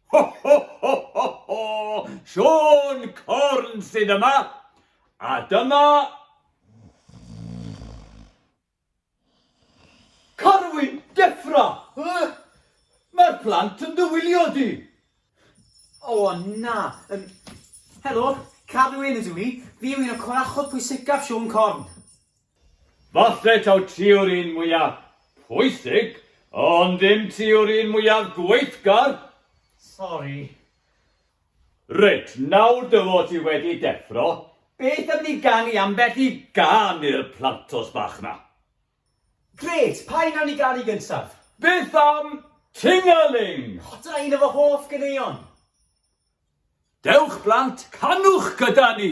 Ho, ho, ho, ho, ho! Sean Corn sydd yma! A dyma... Carwyn, Deffra! Mae'r plant yn dy wylio di! O, na. Um, helo, Carwyn ydw i. Fi yw un o corachod pwysicaf Siôn Corn. Falle taw ti yw'r un mwyaf pwysig, ond dim ti yw'r un mwyaf gweithgar. Sori. Reit, nawr dy fod ti wedi deffro, beth am ni ganu ambell i gân i'r plantos bach 'ma? Grêt, pa un wnawn ni ganu gyntaf? Beth am 'Ting-a-Ling'? O, dyna un o fy hoff ganeuon! Dewch blant, canwch gyda ni!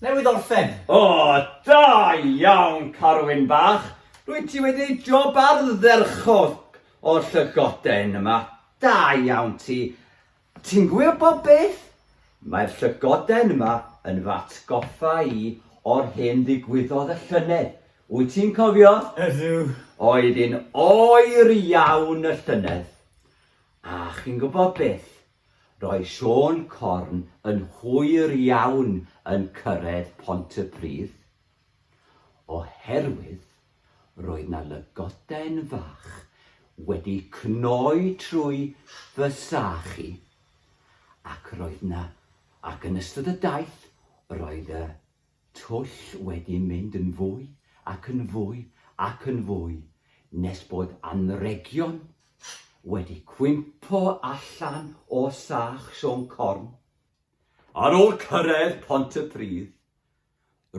Newydd orffen! O, da iawn, Carwyn bach! Rwyt ti wedi ei job ardderchog o'r llygoden yma. Da iawn ti! Ti'n gwybod beth? Mae'r llygoden yma yn fy atgoffa i o'r hyn ddigwyddodd y llynedd. Wyt ti'n cofio? Ydw. Oedd yn oer iawn y llynedd. A chi'n gwybod beth? Roedd Siôn Corn yn hwyr iawn yn cyrraedd Pont y Pridd. Oherwydd roedd na lygoden fach wedi cnoi trwy fy sach i. Ac roedd na, ac yn ystod y daith roedd y twll wedi mynd yn fwy ac yn fwy ac yn fwy nes bod anrhegion wedi cwympo allan o sach Siôn Corn. Ar ôl cyrraedd Pontypridd,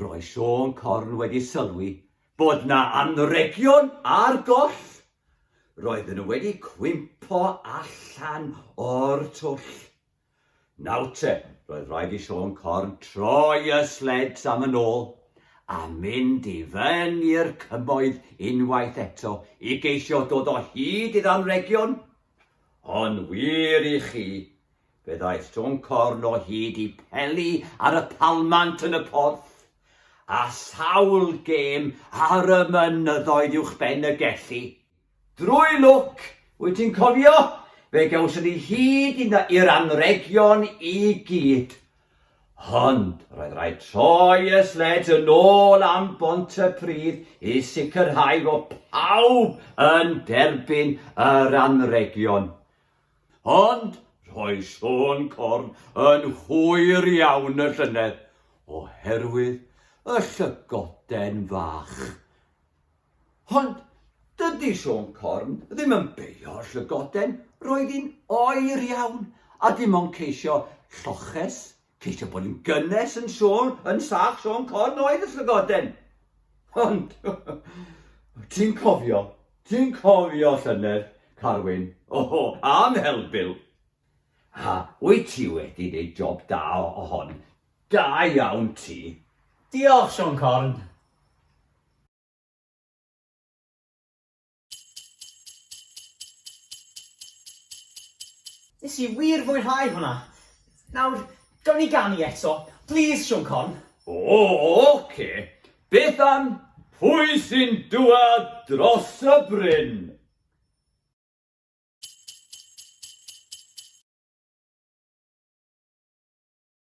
roedd Siôn Corn wedi sylwi bod 'na anrhegion ar goll! Roedden nhw wedi cwympo allan o'r twll. Nawr te, roedd rhaid i Siôn Corn troi y sleds am yn ôl a mynd i fyny'r cymoedd unwaith eto i geisio dod o hyd i ddanrhegion. Ond wir i chi, fe ddaeth Siôn Corn o hyd i Peli ar y palmant yn y porth, a sawl gêm ar y mynyddoedd uwchben y Gelli. Drwy lwc, wyt ti'n cofio, fe gawson ni hyd yn i'r anrhegion i gyd. Ond roedd rhaid troi y sleds yn ôl am bont y pridd i sicrhau fod pawb yn derbyn yr anrhegion. Ond rhoi Siôn Corn yn hwyr iawn y llynedd oherwydd y llygoden fach. Ond dydy Siôn Corn ddim yn beio llygoden, roedd hi'n oer iawn a dim ond ceisio lloches, ceisio bod yn gynnes yn Siôn, yn sach Siôn Corn oedd y llygoden. Ond ti'n cofio, ti'n cofio llynedd, Carwyn, oho, am helbil. A wyt ti wedi gwneud job da o hon, da iawn ti. Diolch, Siôn Corn. Nes i wir fwynhau hwnna! Nawr, gawn ni ganu eto, plîs, Siôn Corn? O, ocê. Beth am Pwy sy'n Dŵad Dros y Bryn?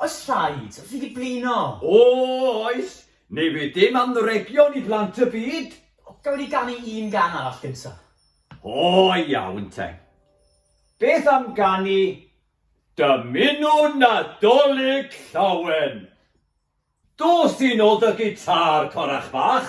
Oes rhaid? Fi 'di blino! O, oes! Ni fydd dim anrhegion i blant y byd! Gawn ni ganu un gan arall gynta? O, iawn te. Beth am ganu Dymunu Nadolig Llawen? Dos i nôl dy gitâr, corach bach!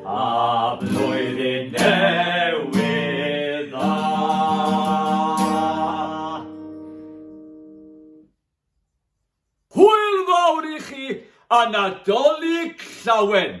A blwyddyn newydd dda! Hwyl fawr i chi a Nadolig llawen!